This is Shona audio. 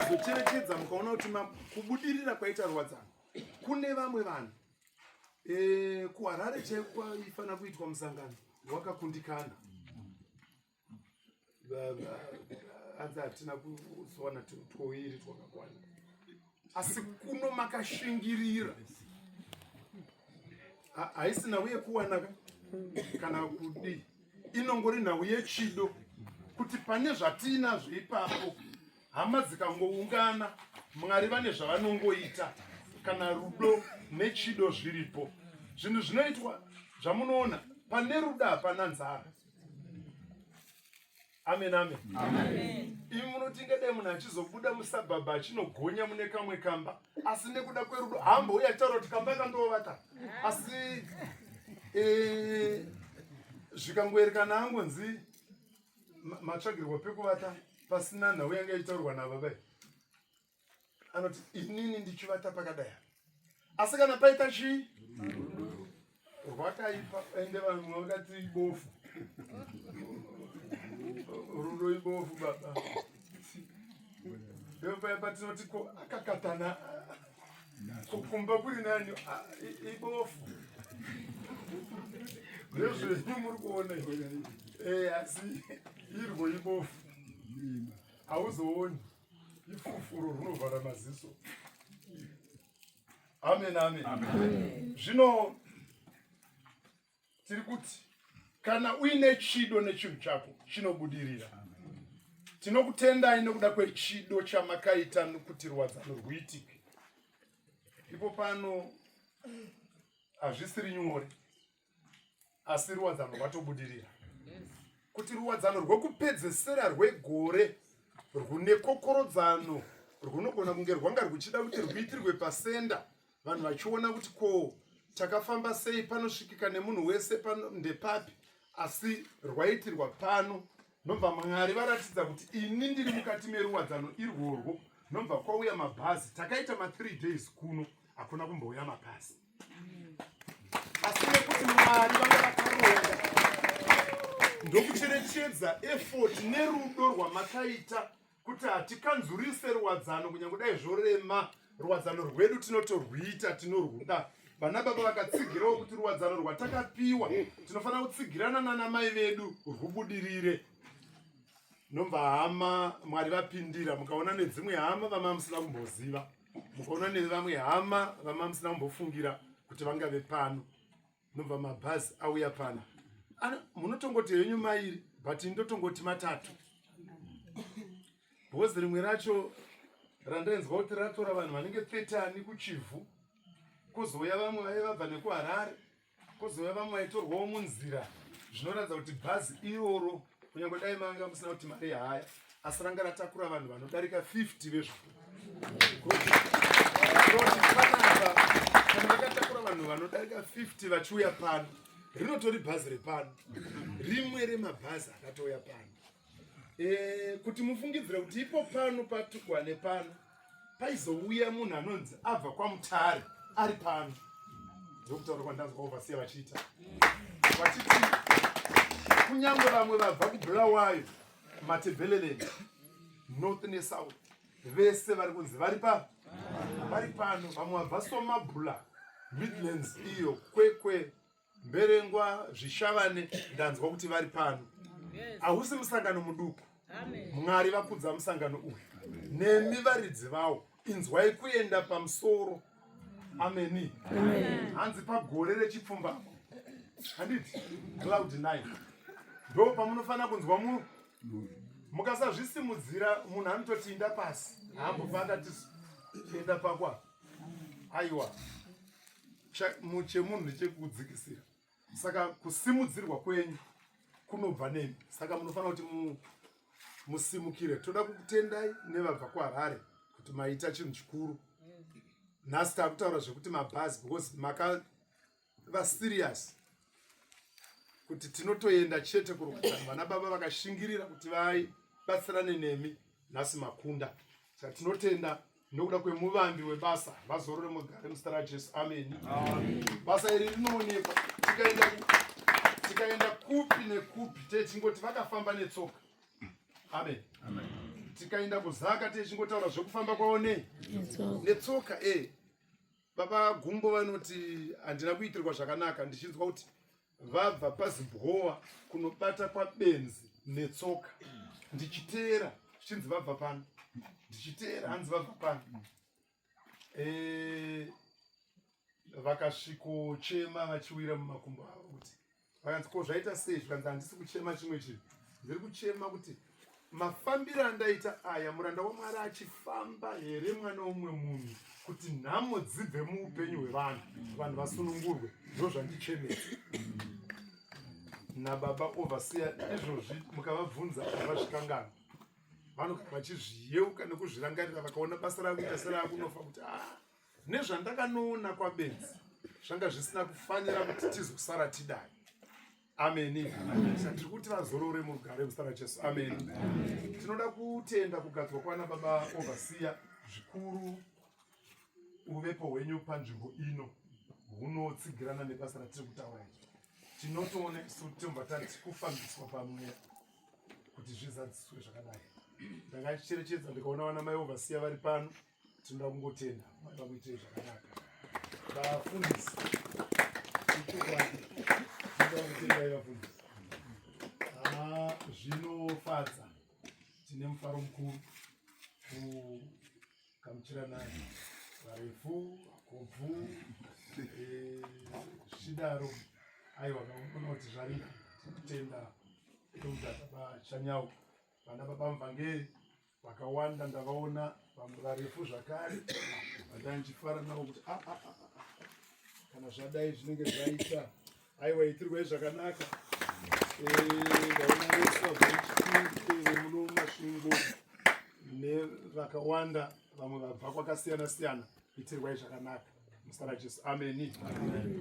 kuzocherekedza mukaona kuti kubudirira kwaita ruwadzano kune vamwe vanhu e, kuharare chaiko kwaifanira kuitwa musangano wakakundikana hanzi hatina kuzowana twoiri twakakwana asi kuno makashingirira haisi nhau yekuwanaka kana kudii inongori nhau yechido kuti pane zvatiinazvo ipapo hama dzikangoungana mwari vane zvavanongoita kana rudo nechido zviripo zvinhu zvinoitwa zvamunoona pane rudo hapana nzara amen amen, amen. imi munotinga dai munhu achizobuda musabhabha achinogonya mune kamwe kamba asi nekuda kwerudo hamba uye achitaura kuti kamba kandovaka asi eh, zvikangoerekana angonzi matsvagirwa pekuvata pasina nhau yanga ichitaurwa navo ve anoti inini ndichivata pakadai asi kana paita chii rwakaipa ende vanhu vakati ibofu rudo ibofu baba ndopaepatinoti ko akakatana kumba kuri nani ah, ibofu ndezvenyu muri kuona eh, asi irwo ibofu hauzooni ifufuro runovhara maziso amen amen zvino tiri kuti kana uine chido nechinhu chako chinobudirira tinokutendai nokuda kwechido chamakaita nokuti rwadzano rwuitike ipo pano hazvisiri nyore asi ruwadzano rwatobudirira kuti ruwadzano rwekupedzesera rwegore rwune kokorodzano rwunogona kunge rwanga rwuchida kuti rwuitirwe pasenda vanhu vachiona kuti ko takafamba sei panosvikika nemunhu wese pano ndepapi asi rwaitirwa pano nobva mwari varatidza kuti ini ndiri mukati meruwadzano irworwo nobva kwauya mabhazi takaita mathree days kuno hakuna kumbouya mabhazi asi nekuti mwari vanga vakaronga ndokucherechedza efoti nerudo rwamakaita kuti hatikanzurise ruwadzano kunyange dai zvorema ruwadzano rwedu tinotorwuita tinorwuda vana baba vakatsigirawo kuti ruwadzano rwatakapiwa tinofanira kutsigirana nana mai vedu rwubudirire nomva hama mwari vapindira mukaona nedzimwe hama vama musina kumboziva mukaona nevamwe hama vama musina kumbofungira kuti vangave pano nobva mabhazi auya pana munotongoti henyu mairi but ndotongoti matatu bhozi rimwe racho randainzwa kuti ratora vanhu vanenge 30 kuchivhu kozouya vamwe vaive vabva nekuharare kozouya vamwe vaitorwawo munzira zvinoratidza kuti bhazi iroro Kunyangwe dai manga musina kuti mari haya asi ranga ratakura vanhu vanodarika 50 vezvako. Vakatakura vanhu vanodarika 50 vachiuya pano. Rinotori bhazi repano. Rimwe remabhazi akatouya pano. Eh, kuti mufungidzire kuti ipo pano patukwane pano paizouya munhu anonzi abva kwamutare ari pano ndokutaura kwandanzwa ovasiya vachiita vachiti kunyange vamwe vabva kubulawayo matebheleleni north nesouth vese vari kunzi vari pa vari pano vamwe vabva somabula midlands iyo kwekwe Mberengwa Zvishavane ndanzwa kuti vari pano. Hausi musangano muduku. Mwari vakudza musangano uyu. Nemi varidzi vawo inzwai kuenda pamusoro. Ameni. Hanzi pagore rechipfumbamwe. Handiti cloud 9. Ndo pamunofanira kunzwa munhu. Mukasazvisimudzira munhu anototinda pasi. Haambofana tisu. Tienda pakwa. Aiwa. chemunhu ndechekudzikisira saka kusimudzirwa kwenyu kunobva nemi saka munofanira kuti mu, musimukire toda kukutendai nevabva kuharare kuti maita chinhu chikuru nhasi takutaura zvekuti mabhazi because maka va serious kuti tinotoenda chete kurukutana vana baba vakashingirira kuti vai batsirane nemi nhasi makunda saka tinotenda nokuda kwemuvambi webasa vazorore mugare muzita rajesu ameni basa iri rinoonekwa tikaenda tikaenda kupi nekupi techingoti vakafamba netsoka amen tikaenda kuzaka techingotaura zvekufamba kwavo nei netsoka e eh. baba gumbo vanoti handina kuitirwa zvakanaka ndichinzwa kuti vabva pazibhowa kunobata kwabenzi netsoka ndichiteera zvichinzi vabva pano ndichiteera hanzi vabva pano eh, vakasvikochema vachiwira mumakumbo avo kuti vakanzi ko zvaita sei zvikanzi handisi kuchema chimwe chinhu ndiri kuchema kuti mafambiro andaita aya muranda wamwari achifamba here mwana womumwe munhu kuti nhamo dzibve muupenyu hwevanhu vanhu vasunungurwe ndo zvandichemesa nababa ovasiya izvozvi mukavabvunza avazvikangana vanoga vachizviyeuka nekuzvirangarira vakaona basa rakuita serakunofa kuti a ah, nezvandakanoona kwabenzi zvanga zvisina kufanira kuti tizosara tidai ameni tiri kuti vazorore mugare muzita rajesu ameni tinoda kutenda kugadzwa kwana baba ovasiya zvikuru uvepo hwenyu panzvimbo ino hunotsigirana nebasa ratiri kutaura iri tinotoona isu tiomba tati kufambiswa pamweya kuti zvizadziswe zvakadai ndakacherechedza ndikaona vana mai ovasiya vari pano tinoda kungotenda mwari vakuitire zvakanaka vafundisi ichokwadi tinoda kutendai vafundisi ah, zvinofadza tine mufaro mukuru kukamuchirana varefu vakobvu eh, zvichidaro aiwa kaona kuti zvarira tikutenda tokuda baba chanyawo vana baba muvhangeri vakawanda ndavaona vamwe varefu zvakare vandanga ndichifara navo kuti ah, ah, ah, kana zvadai zvinenge zvaita aiwa itirwai zvakanaka ndaona vese vamuno masvingo nevakawanda vamwe vabva kwakasiyana siyana itirwai zvakanaka musara jesu ameni, ameni.